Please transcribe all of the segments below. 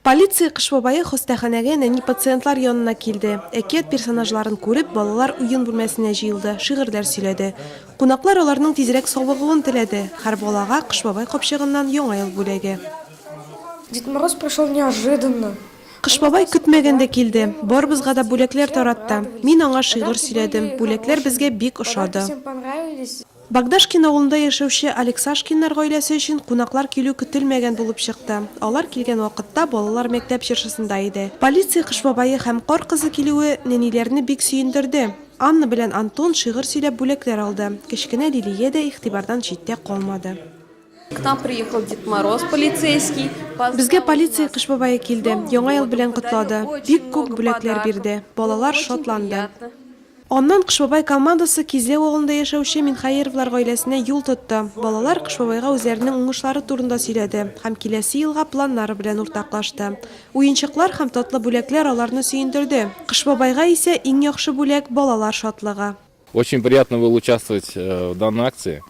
Полиция Кыш бабае хастаханәгә нәни пациентлар янына килде. Әкият персонажларын күреп, балалар уен бүлмәсенә җыелды, шигырьләр сөйләде. Кунаклар аларның тизрәк савыгуын теләде. Хәр балага Кыш бабай капчыгыннан Яңа ел бүләге. Дед Мороз пришел неожиданно. Кыш бабай көтмәгәндә килде. Барыбызга да бүләкләр таратты. Мин аңа шигырь сөйләдем. Бүләкләр безгә бик ошады. Богдашкин авылында яшәүче Алексашкиннар гаиләсе өчен кунаклар килү көтелмәгән булып чыкты. Алар килгән вакытта балалар мәктәп чыршысында иде. Полиция Кыш бабае һәм Кар кызы килүе нәниләрне бик сөендерде. Анна белән Антон шигырь сөйләп бүләкләр алды. Кечкенә Лилия дә игътибардан читтә калмады. К нам приехал Дед Мороз полицейский. Безгә полиция Кыш бабае килде, Яңа ел белән котлады, бик күп бүләкләр бирде. Балалар шатланды. Аннан Кыш бабай командасы Кизләү авылында яшәүче Минхәеровлар гаиләсенә юл тотты. Балалар Кыш бабайга үзләренең уңышлары турында сөйләде һәм киләсе елга планнары белән уртаклашты. Уенчыклар һәм татлы бүләкләр аларны сөендерде. Кыш бабайга исә иң яхшы бүләк, балалар шатлыгы. Очень приятно было участвовать в данной акции.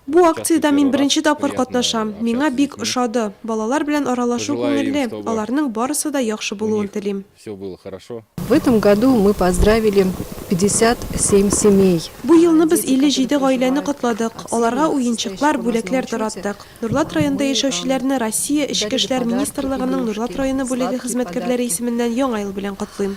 Бу акциядә мин беренче тапкыр катнашам, миңа бик ошады. Балалар белән аралашу күңелле, аларның барысы да яхшы булуын телим. В этом году мы поздравили 57 семей. Бу елны без 57 гаиләне котладык, аларга уенчыклар, бүләкләр тараттык. Нурлат районында яшәүчеләрне Россия Эчке эшләр министрлыгының Нурлат районы бүлеге хезмәткәрләре исеменнән Яңа ел белән котлыйм.